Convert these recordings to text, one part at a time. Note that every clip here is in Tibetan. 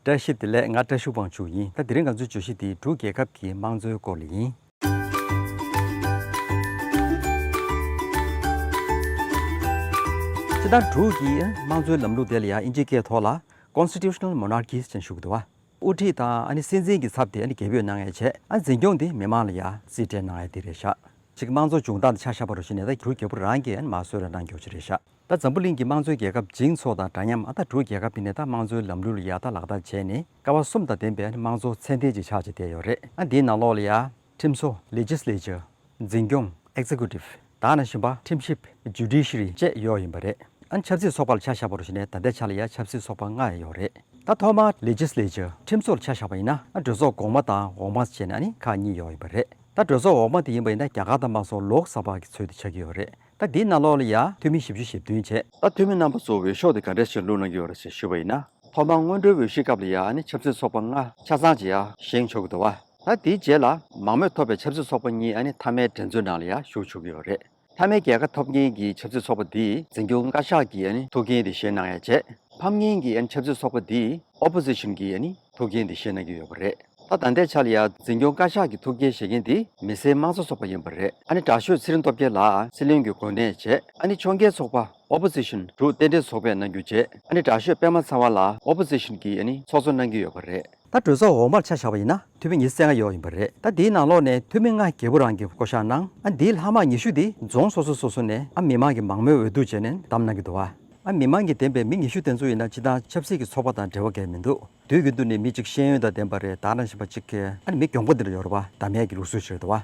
བཀྲ་ཤིས་བདེ་ལེགས་ང་བཀྲ་ཤུག་དབང་ཕྱུག་ཡིན་ད་དེ་རིང་ང་ཚོའི་བརྗོད་གཞི་དེ་འབྲུག་རྒྱལ་ཁབ་ཀྱི་དམངས་གཙོའི་སྐོར་ལ་ཡིན། དེ་ལྟར་འབྲུག་གི་དམངས་གཙོའི་ལམ་ལུགས་དེ་ལ་ཡང་དབྱིན་ཇིའི་སྐད་ཐོག་ལ། Constitutional Monarchies། ཅེས་ཞུ་གི་འདུག་བ། དབུ་ཁྲིད་དང་སྲིད་འཛིན་གྱི་ཚབ་དེ་རྒྱལ་པོས་གནང་ཡས་བྱས། འཛིན་སྐྱོང་དེ་མི་མང་ལ་ཡང་རྩིས་སྤྲད་གནང་ཡས་དེ་རེད་བཞག། གཅིག་དམངས་གཙོ་བྱུང་སྟངས་དེ་ཆ་ཤ་བ་རུ་བཞེད་ནས་ད་རྒྱུ་རྒྱལ་པོ་རང་གིས་མ་བཟོས་ར་གནང་རྒྱོ་ཆེ་རེད་བཞག། ད་འཛམ་བུ་གླིང་གི་དམངས་གཙོའི་རྒྱལ་ཁབ་འཇིང་ཚོགས་དང་འདྲ་མཉམ་ཨ་མདའ་དྲུག་རྒྱལ་ཁབ་དེ་ནི་ད་དམངས་གཙོའི་ལམ་ལུགས་ལ་ཡག་ལྟ་ལག་ལྟ་བྱས་ནས་ཀ་བ་གསུམ་དང་ལྡན་པའི་དམངས་གཙོ་ཚད་ལྡན་ཅིག་ཆགས་བྱེད་བསྡད་ཡོད་རེད་ཨ་འདིའི་ནང་ལོགས་ལ་ཡང། ཁྲིམས་བཟོ། Legislature། འཛིན་སྐྱོང། Executive། དང་ན་གཞོན་པ། Timship། Judiciary། བཅས་ཡོད་ཡིན་པ་རེད་ཨ་ཆབ་སྲིད་ཚོགས་པ་ལ་ཆ་བཞག་པ་རུ་བཞེད་ནས་ད་ལྟའི་ཆ་ལ་ཡང་ཆབ་སྲིད་ཚོགས་པ་ལྔ་ཡང་ཡོད་རེད་ད་ཐོག་མར Legislature ཁྲིམས་བཟོ་ལ་ཆ་བཞག་པ་ཡིན་ན་ཨ་གྲོས་ཚོགས་གོང་མ་དང་འོག་མ་བྱས་ནས་ཨ་ནི་ཁག་གཉིས་ཡོད་ཡིན་པ་རེད་ད་གྲོས་ཚོགས་འོག་མ་དེ་ཡིན་པ་ཡིན་ན་རྒྱ་གར་དང་དམངས་གཙོ་ལོགས་བསགས་པ་གི་ཚུལ་དུ་ཆགས་ཀྱི་ཡོད་རེད། ད་འདི་ན་ལོག་ལ་ཡ། འཐུས་མི་བཞི་བཅུ་ཞེ་བདུན་བྱས། ད་འཐུས་མི་རྣམ་པ་ཚོ་འོས་ཤོག་དེ་ག་འདྲས་ཤིག་བླུག་གནང་གི་ཡོད་རེད་ཟེར་ཞུས་པ་ཡིན་ན། ཐོག་མར་སྔོན་འགྲོའི་འོས་གཞིའི་སྐབས་ལ་ཡ་ནི་ཆབ་སྲིད་ཚོགས་པ་ལྔ་ཆ་ཚང་ཅིག་ཡ་བཞེངས་ཆོག་གི་འདུག་བ། ད་དེའི་རྗེས་ལ་མང་མོས་ཐོབ་པའི་ཆབ་སྲིད་ཚོགས་པ་གཉིས་ཡ་ནི་མཐའ་མའི་འགྲན་རྩོད་ནང་ལ་ཡ་ཞུགས་ཆོག་གི་ཡོད་རེད། མཐའ་མའི་རྒྱལ་ཁ་ཐོབ་མཁན་གྱི་ཆབ་སྲིད་ཚོགས་པ་དེས་འཛིན་སྐྱོང་བཀའ་ཤག་གི་ཡ་ནི་ཐུགས་འགན་དེ་བཞེས་གནང་ཡ་བྱས། ཕམ་མཁན་གྱི་ཡ་ནི་ཆབ་སྲིད་ཚོགས་པ་དེས Opposition། གྱི་ཡ་ནི་ཐུགས་འགན་དེ་བཞེས་གནང་གི་ཡོད་པ་རེད། ད་ད་ལྟའི་ཆ་ལ་ཡང་འཛིན་སྐྱོང་བཀའ་ཤག་གི་ཐུགས་འགན་བཞེས་མཁན་དེ་མི་སེར་དམངས་གཙོ་ཚོགས་པ་ཡིན་པ་རེད། ཨ་ནི་དྲག་ཤོས་ཚེ་རིང་སྟོབས་རྒྱལ་ལགས་སྲིད་བློན་གྱི་གོ་གནས་བྱས། ཨ་ནི་ཕྱོགས་འགལ་ཚོགས་པ Opposition དྲུག་རྟེན་འབྲེལ་ཚོགས་པས་གནང་རྒྱུ་བྱས། ཨ་ནི་དྲག་ཤོས་པད་མ་ཚང་བ་ལགས Opposition གྱི་ཡ་ནི་ཚོགས་གཙོ་གནང་གི་ཡོད་པ་རེད། ད་གྲོས་ཚོགས་འོག་མར་ཆ་བཞག་པ་ཡིན་ན་འཐུས་མི་ཉིས་སེ་ལྔ་ཡོད་ཡིན་པ་རེད། ད་དེའི་ནང་ལོགས་ནས་འཐུས་མི་ལྔ་བརྒྱད་པོ་རང་གི་བསྐོ་གཞག་གནང། ཨ་ནི་དེའི་ལྷག་མ་ཉི་ཤུ་དེ་རྫོང་སོ་སོ་སོ་སོ་ནས་ཨ་མི་མང་གི་མང་མོས་འོས་བསྡུ་བྱས་ནས་བདམས་གནང་གི་འདུག་ཨ། ཨ་མི་དམངས་ཀྱི་བདེན་པའི་མི་ངེས་ཤུགས་དེ་ཚོ་ཡིན་ན་སྤྱི་དང་ཆབ་སྲིད་ཀྱི་ཚོགས་པ་དང་འབྲེལ་བ་འགལ་མི་འདུག་དུས་རྒྱུན་དུ་ནི་མི་གཅིག་ཤེས་ཡོན་དང་ལྡན་པ་རེད་ད་རང་བཞིན་པ་གཅིག་གིས་ཨ་ནི་མི་གྱོང་པོ་འདི་ལ་ཡོ་རོ་པ་ཟླ་མེད་ཀྱི་ལུགས་སྲོལ་ཕྱིར་དུ་ཨ་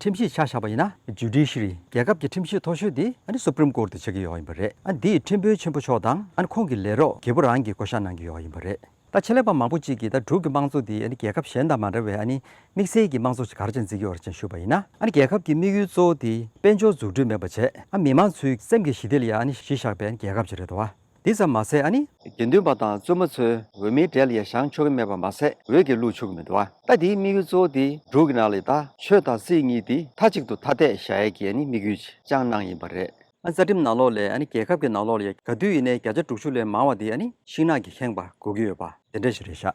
ཁྲིམས་གཞིས་ཆགས་བཞག་པ་ཡིན་ན Judiciary རྒྱལ་ཁབ་ཀྱི་ཁྲིམས་གཞིས་མཐོ་ཤོས་འདི་ཨ་ནི Supreme Court དུ་བྱེད་ཀྱི་ཡོ་ཡིན་པ་རེད་ཨ་འདིས་ཁྲིམས་དཔོན་ཆེན་པོ་མཆོག་དང་ཨ་ནི་ཁོང་གི་ལས་རོགས་རྒྱལ་པོ་རང་གིས་བསྐོ་བཞག་གནང་གི་ཡོ་ཡིན་པ་རེད། ད་ཆེད་ལས་པ་མང་པོ་གཅིག་གིས་ད་འབྲུག་གི་དམངས་གཙོ་འདི་རྒྱལ་ཁབ་གཞན་དང་མ་འདྲ་བའི་དམིགས་བསལ་གྱི་དམངས་གཙོ་ཞིག་ག་རེ་བྱས་འཛིན་རྒྱུ་བར་ཅན་ཞུས་པ་ཡིན་ན། རྒྱལ་ཁབ་ཀྱི་དམིགས་ཡུལ་གཙོ་བོ་དེ་དཔལ་འབྱོར་འཛུགས་སྐྲུན་མེད་པ་བྱས། མི་དམངས་ཚོའི་སེམས་ཀྱི་ཞི་བདེ་ལ་ཡང་གཞི་བཞག་པའི་རྒྱལ་ཁབ་ཅིག་རེད་དོ། འདི་ཙམ་མ་ཟད། དགེ་འདུན་པ་དང་བཙུན་མ་ཚོའི་འོས་མིའི་གྲལ་ཡང་བཞེངས་ཆོག་གི་མེད་པ་མ་ཟད་འོས་ཀྱི་བླུགས་ཆོག་གི་མི་འདུག་ད་དེའི་དམིགས་ཡུལ་གཙོ་བོ་དེ་འབྲུག་གི་ནང་ལ་ད་ཆོས་དང་སྲིད་གཉིས་དེ་མཐའ་གཅིག་ཏུ་ཐ་དད་བཞག་ཡས་ཀྱི་དམིགས་ཡུལ་ཅིག་ཅང་སྣང་ཡིན་པ་རེད། རྩ་ཁྲིམས་ནང་ལོགས་ལས་རྒྱལ་ཁབ་ཀྱི་ནང་ལོགས་ལ་ཡི་ག་དུས་ཡིན་ནའི་བརྒྱ་ཆ་དྲུག་ཅུ་ལས་མང་བ་དེ་ཤིང་ནགས་ཀྱི་ཁེངས་པ་བགོ་གི་ཡོད་པ། དེ་འདྲ་ཞིག་རེད་ཤག།